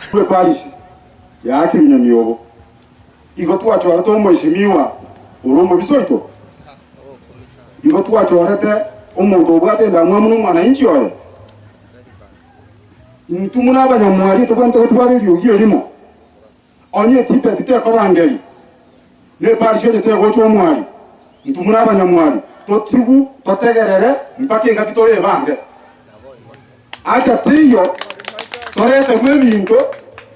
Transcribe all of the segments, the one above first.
Intwe parish ya Kiminyoni obo igo twachorete omweshimiwa ore omobisa oito. Igo twachorete omonto obwate endamwamu nomwanainchi oye. Intwe buna abanyamwari tobwenerete gotwara eriogi erimo. Onye etipe titekoba ngeri, na eparisha enye tegocha omwari, intwe buna abanyamwari totigwu totegerere mpaka engaki tore ebange. Acha teiyo, toreterwe ebinto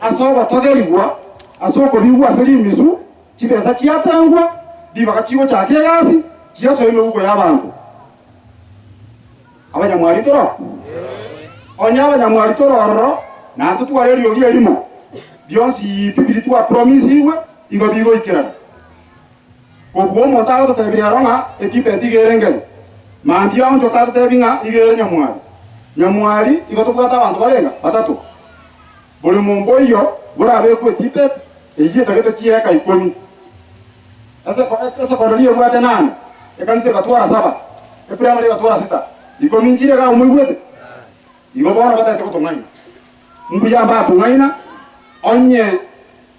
ase ogotogerigwa ase okobigwa ase rimisu, chibesa chiatengwa, ribaga chigochaka egasi, chiasoe emeguko y'abanto. Abanyamwari toro? Onye abanyamwari toro ororo, naintwe tware eriogi erimo, bionsi bibiri twapromisigwe igo bigoikerana. Kobua omonto agototebirie aro ng'a Etibet iga ere engencho, mambia aonchoke atotebi ng'a iga ere nyamwari. Nyamwari igo tobwate abanto barenge batato. Bori monto oyio borabekwe Tibet eyio etagete chieka ikomi. Eseko, esekondari ebwate nane, ekanisa egatwara saba, eprimary egatwara sita. Ikomi nchire iga moigwete? Igo bono batagete gotong'aina. Mbuya mbatong'aina onye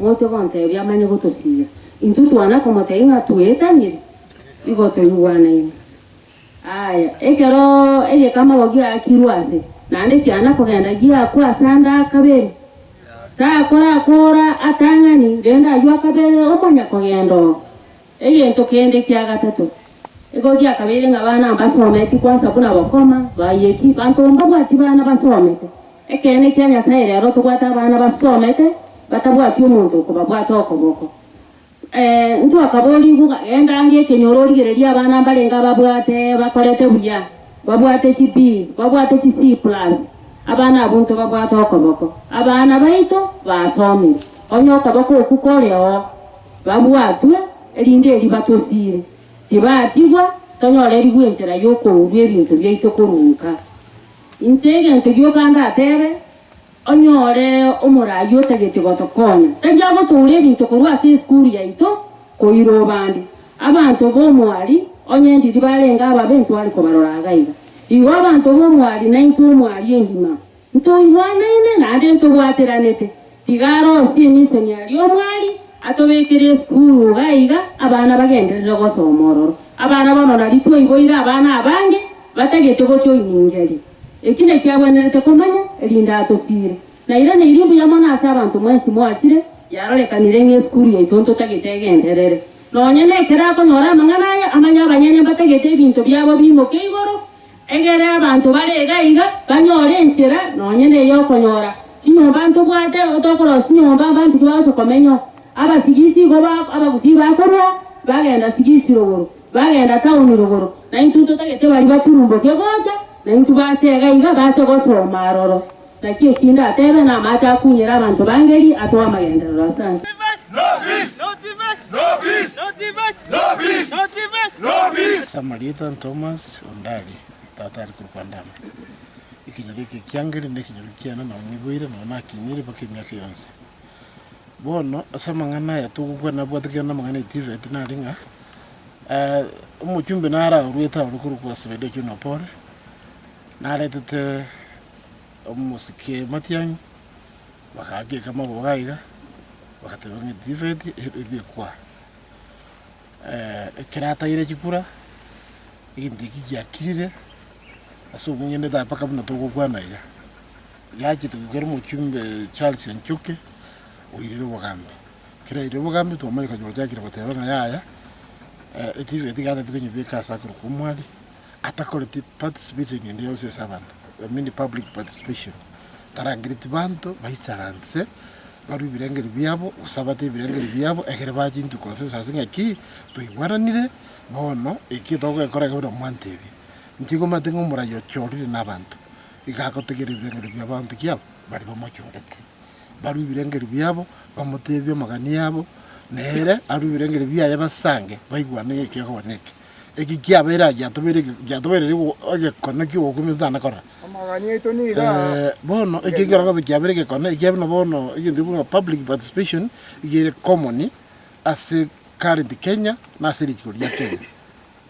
Gocha gontebia amanye gotosiria. Intwe twana komotebia ng'a twetanire, igo toigwanaine. Aye, ekero egekamaro giaakirwe ase, naende kiana kogenda giakwa ase ande akabere, takora koora atang'ani rende aywo akabere omonyakogenda oo. Egento kende kia gatato, ekero giakabeire ng'a abana mbasometi kwansa buna bokoma, bayeti, banto mbabwati bana basomete. Ekeene kia Nyasae rero tobwate abana basomete batabwati omonto okobabwata okoboko. Ee, ntwakaborigwe ng'a genda ange ekenyoro origererie abana mbarenge ababwate bakorete buya, babwate chi B, babwate chi C plus. Abana abwo ntobabwate okoboko. Abana baito basomire. Onye okoboko okwo kore oo. Babwatwe, erinde eriba tosiire tibaatigwa, tonyore eribu enchera y'okourwa ebinto biaito korwa nka. Inche egento gioka ndatebe, onyore omoraai otageti gotokonya, tari agotoura ebinto korwa ase esukuru yaito koira obande. Abanto b'omwari, onye endiri barenge ababe ntware kobarora agaiga, igo abanto b'omwari naintwe omwari engima Ntoigwanaine naende ntobwateranete. Tiga arosie emisoniari omwari atobekere esukuru iga iga abana bagenderere gosoma ororo. Abana bono nari twaiboire abana abange batagete gochoiningeri. Eki nekiagwenerete komanya erinde atosiire. Nairaneirie mbuya mono ase abanto mwensi moachire yarorekanire ng'a esukuru yaito ntotagete egenderere. Nonya nekero akonyora amang'ana aya amanye abanyene mbatagete ebinto biabo biimoke igoro. Egere abanto bare iga iga banyore enchera nonya ney'okonyora chinyomba ntwe bwate otokorosia chinyomba abanto tibagocha komenyao. Abasigisi igo ba abagusii bakorua bagenda sigisi rogoro, bagenda taoni rogoro, na intwe totagete baria baturumboke gocha, na intwe bache iga iga bache gosoma aroro. Naki eki ndatebe namache akunyere abanto b'angeri ase w'amagenderero ase anse. Samarieta Ntomas onde aria tata are korokwa Ndama. Ekenyoro eke ki'angeri nekenyoro kiane nao neboire nao nakinyire mpaka emiaka yonsi. Bono ase amang'ana aya togokwana nabwate kende namang'ana e Tivet nare ng'a omochumbe naro aorwete aore korokwa Sebedeo John Opore naretete omosike matiang'i, bagaakeka amagogo aiga, bagateeba ng'a etifeti eria ekwa. Ekero ataire chikura, egento ekio giakirire ase omong'ina etae mpaka buna togokwana iga. Yachete goika ere omochumbe Charles Njuki, oirire obogambi. Ekero yairire obogambi twamanya kanyora ogoteeba ng'a yaya, etifeti iga tari konyebeka ase akorokwa omwari. Atakoreti participation ende yonsi ase abanto, I mean public participation, tarangereti banto baisaranse barue ebirengeri biabo gose abate ebirengeri biabo ekero baa chintuko consensus ng'a ki toigweranire bono eki togekora ekero buna mwantebia. Inche igo omanyete ng'a omoraia ochorire nabanto iga agotegerera ebirengeri biabo abanto ki aba baria bamochorete barue ebirengeri biabo bamotebie amagani abo nere arue ebirengeri biaye basange baigwane ng'a eki akoba neke. Eki kiabeire aa giatobereirie egekono ki'ogokumia omonto tana korora. Bono eki ekero gose kiabeire egekono, ekiabe buna bono egento ekiborwa ng'a public participation, iga ere common ase current Kenya na ase riiko ria Kenya.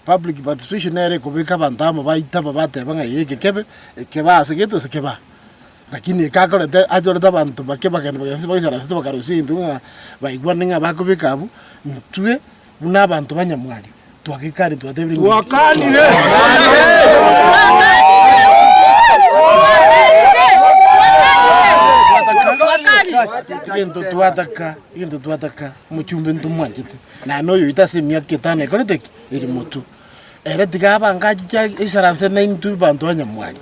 Public participation nere ekobeka abanto amo baita aba bateba ng'a eye eke kebe, eke baa ase gete gose eke baa. Lakini eke akoreta, achorete abanto bake bagenda bagenda ase chibagaso chibagarosia egento ekio ng'a baigwane ng'a bakobeka abwo, intwe. Buna abanto banyamwari, twagekani, twatebire ng'a inki? Twataka egento, twataka egento, twataka omochumba ntomwanchete, na noyo oito ase emiaka etano ekorete ki? Eri motwe. Ere tiga abange achiche aisaranse naintwe abanto banyamwari,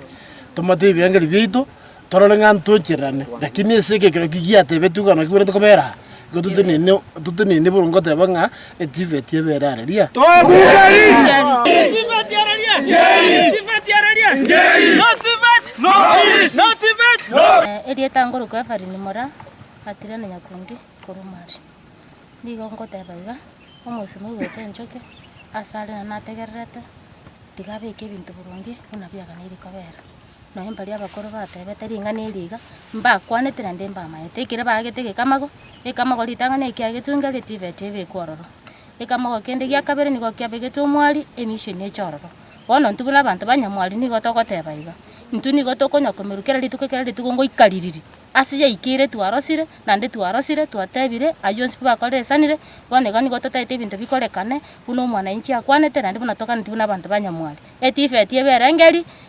tomote ebirengererio biaito, Torore ng'a ntwenchererane. Lakini ase ekero ki giatebetwe igoro naki bwerete kobera aa, igo totenene, totenene boronge goteba ng'a etifeti ebere are ria. Etifeti are ria. Etifeti are ria. No tifet, no peace. No tifet, no. Erieta ngorokwa Evelyn mora Atira na Nyakundi korwa Mali. Nigo ngoteba iga, omosemi oigwete enchoki asare na nategererete, tiga abeke ebinto boronge buna biaganeiri kobera. Nabo mbaria abakoro batebete ring'ana eri iga, mbakwanete naende mbamaete, ekero baagete egekamago, ekamago ritang'ani ekia egetungi eria tibeti ebekwa ororo. Ekamago kende gia kabere nigo kiabegetwe omwari, emisioni eche ororo. Bono intwe buna abanto ba nyamwari nigo togoteba iga, intwe nigo tokonywa komerwa kera rituko kera rituko ngoika ririri, ase yaikeire twarosire, naende twarosire, twatebire, aywo onsi pi bakorire esanire, bono iga nigo totaete ebinto bikorekane buna omwananchi akwanete naende buna toganeti buna abanto ba nyamwari. Etibeti ebe erenge eria,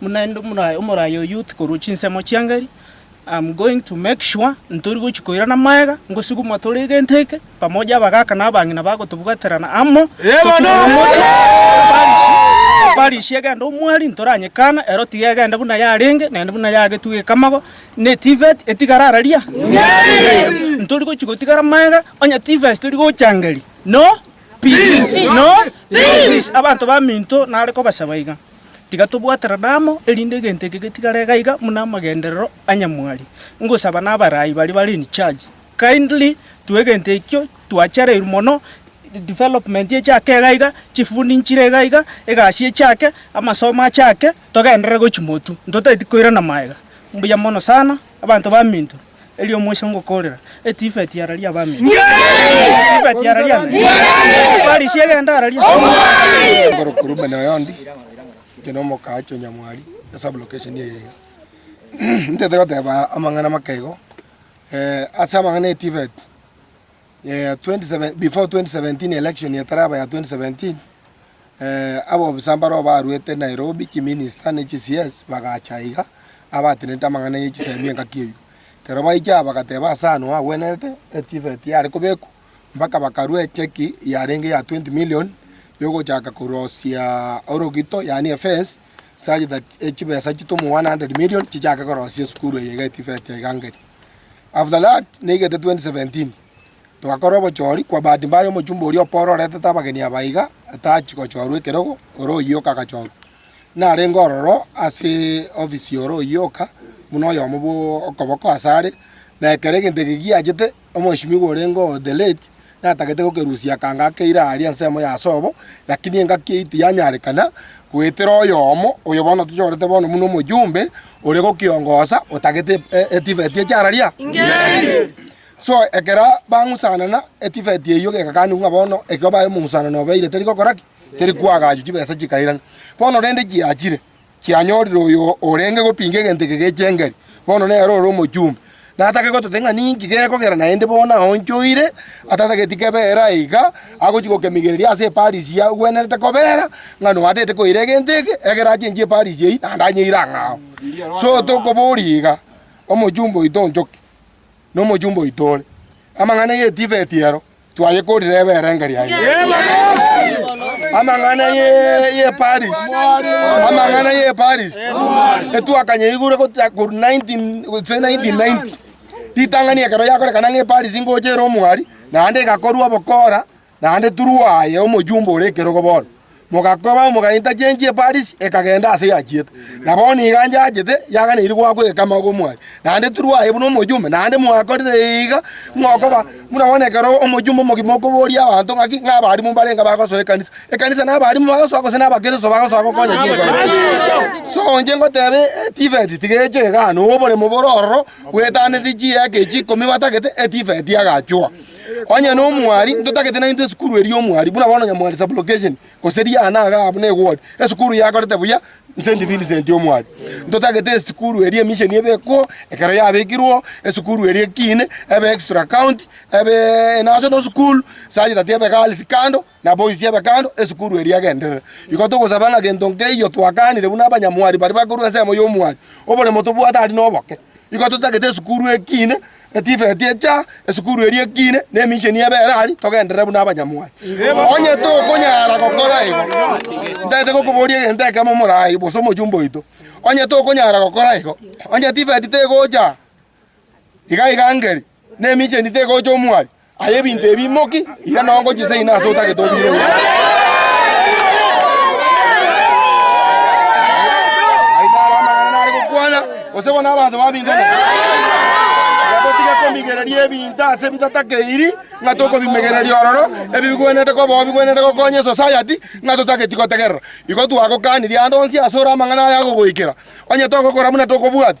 Buna inde omoraya omoraya o youth korwa chinsemo chiangeri, am going to make sure ntori gochi koirana magega, ngosuguma tore egento eke, pamoja abagaka na abang'ina bagotobwaterana amo, tosuguma moche na parish, na parish egende omwari ntoranyekana, ero tiga egende buna yarenge, naende buna yagetugete ekamago, na etivet etigare araria? Ntori gochi gotigara magega, onye tivest tori gochangeri, no peace, no peace, abanto baminto nare kobasaba iga. Tiga tobwaterane amo, erinde egento eke getigare gaiga buna amagenderero a nyamwari. Ngosaba n'abarai baria bare in charge, kindly tue egento ekio twachereirwe mono, development echake iga iga, chifundi nchire iga iga, egasi echake, amasomo achake, togenderere gochia motu, ntotageti koirana maega. Mbuya mono sana, abanto baminto. Erio omochie ngokoorera, Etifeti ararie abame. Etifeti ararie ame. Efarisi egende ararie. Oborokwa Rubeni oyonde, inche nomoka ache onyamwari e sublocation eye iga. Intete goteba amang'ana make igo, ase amang'ana Etifeti. Before 2017 election etaraba ya 2017, abobisa mbaroo baruete Nairobi kiminister ne chisies bagacha iga abatenenete amang'ana ye chisemi engaki eyio. Ekero baiche aba bagateba ase ano agwenerete etivet yare kobekwa mpaka bakarua echeki yarenge ya 20 million yogochaka korosia orogito yaani efence such that echibesa chitoma 100 million chichake korosia esukuru eye iga etivet iga ngeri. After that, naigete 2017, togakora obochori, kwa bahati mbaya omochumba oria o Paul oretete abageni aba iga atachi gochorwa ekerogo, ore oyio oka agachorwa. Narenge ororo ase ofisi ore oyio oka, buna oyomo bwo okoboko asare, na ekero egento eke giachete, omoheshimiwa orenge oo the late Natagete gokerusia akanga akeire aaria ensemo ya Asobo, lakini engaki eyio tiyanyarekana, goetera oyomo, oyo bono tochorete bono buna omojumbe, ore gokiongosa, otagete etifeti e chararia ingerie. So ekero bang'usanana, etifeti eyio gegakanigwa ng'a bono ekero baye omong'usanano obeire teri gokora ki? Teri kwagachwa, chibesa chikairana. Bono rende chiachire, chianyorire oyo orenge gopinga egento eke gechengeri, bono nere ore omochumbe. Natake gotota ng'a ninki gekogera naende bono aonchoire, atatageti kebeera aye iga, agochia gokemigereria ase eParisi ya gwenerete kobeera, ng'a noatete koira egento eke, ekero achenchie eParisi eyio, naende anyeire ang'ao. So tokoboria iga, Omochumba oito onchoke? nomochumba oito ore. Amang'ana y'Etifeti ero twayekorire ebe erengerio yaino. Amang'ana y'Eparis, amang'ana y'Eparis etwakanyeigure gochia korwa 19 gose 1990 ritang'ani ekero yakorekana ng'a Eparis ngocha ere omwari naende egakorwa obokora naende turwa aye omojumbe ore ekerogo bono, mogakoba omogainto achenchie eparisi, ekagenda aase yachiete. Na bono iga nchachete, yaganeiri goaka ogekama gw'omwani, naende turwa aye buna omojumbe, naende mwakorire iga mokoba buna bono ekero omojumbe omogima okoboria abanto ng'aki ng'abarimu mbarenge abagosoa ekanisa. Ekanisa nabarimu bagosoa gose nabakristo bagosoa gokonya chinko ime? So inche ngoteba etifet tigecha igaa, na oboremo bore ororo bwetanetie chiaka echi ikomi batagete etifet agachua. Onye nomwari, ntotagete naintwe esukuru eri y'omwari, buna bono nyamwari sublocation, gose riana iga abwo negori, esukuru yakorete buya Saint Vincent y'omwari. Ntotagete esukuru eri emisheni ebe ekwo, ekero yabekirwo, esukuru eri ekiine, ebe extra county, ebe national school, sachi tati ebe girls kando, Naboisie abe kando esukuru eria agenderere. Igo togosaba ng'a gento nkeiyo twakaanire buna abanyamwari baria bakorwa ensemo y'omwari, oboremo tobwate aria noboke. Igo totagete esukuru ekiine, etifeti echa esukuru eria ekiine, na emisheni ebe ere aria, togenderere buna abanyamwari. Onye tokonyara gokora igo, ntagete gokoboria egento ekemo morayi, gose omochumba oito. Onye tokonyara gokora igo, onye etifeti tegocha Igaiga angeri, nemicheni tegocha omwari, aye ebinto ebi imoki, ira nonya ngochise ina ase otagete obire oyo. Aye naro amang'ana nare gokwana, gose bono abanto babingane. Na totige komigereria ebinto ase bitatakeiri ng'a tokobimegereria ororo, ebi bigwenerete koba oo bigwenerete gokonya esosayati, ng'a totageti gotegerera. Igo twagokanirie ande onsi asore amang'ana aya agogoikera, onye togokora buna tokobwati.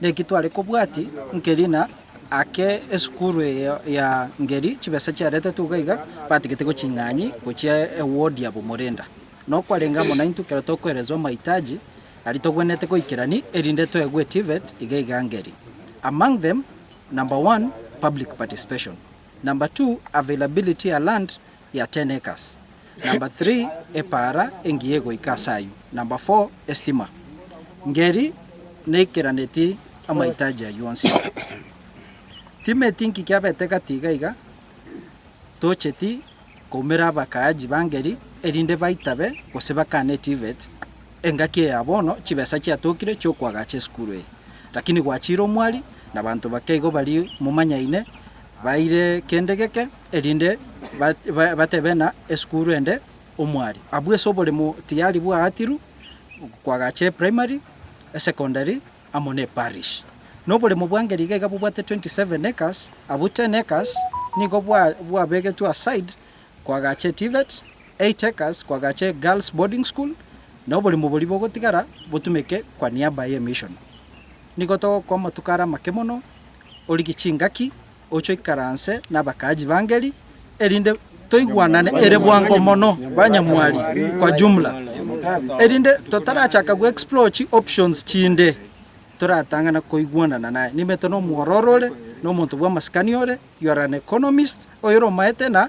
Naki tware kobwati nkerina ake esukuru eye ya ngeri chibesa chiaretetwe iga iga batagete goching'anyi gochia ewodi ya bomorenda. Nokwarenge amo naintwe ekero tokoerezwa amaitaji aria togwenerete goikerani erinde toegwe TVET iga iga ngeri among them number one public participation, number two availability ya land ya ten acres, number three epaara engiya egoika ase ayio, number four estima. Ngeri naikeraneti amahitaji ayio onsi. Timeti nki kiabete gati iga iga, tocheti koumera abakaaji ba Ngeri erinde baitabe gose bakane TVET, engaki eya bono chibesa chiatokire chiokoagacha esukuru eye. Lakini gwachiire omwari, nabanto bake igo baria momanyaine Baire kende geke, erinde batebe ng'a esukuru ende omwari abwo ase oboremo tiyari bwagatirwe kw'agacha eprimary, esecondary amo ne parish. Na oboremo bwa ngeri iga iga bobwate 27 acres, abwo 10 acres nigo bwabegetwe aside kw'agacha etivet, 8 acres kw'agacha egirls boarding school, na oboremo boria bogotigara botumeke kwa niaba y'emission. Nigo togokoa amatuko are amake mono. origie chingaki, oche oikaranse nabakaaji b'angeri, erinde toigwanane ere bwango mono banyamwari kwa jumla. Erinde totarachaka goexplore chi options chinde, toratang'ana koigwanana naye. Nimanyete nomwororo ore, nomonto bw'amasikani ore, you are an economist, oyore omaete na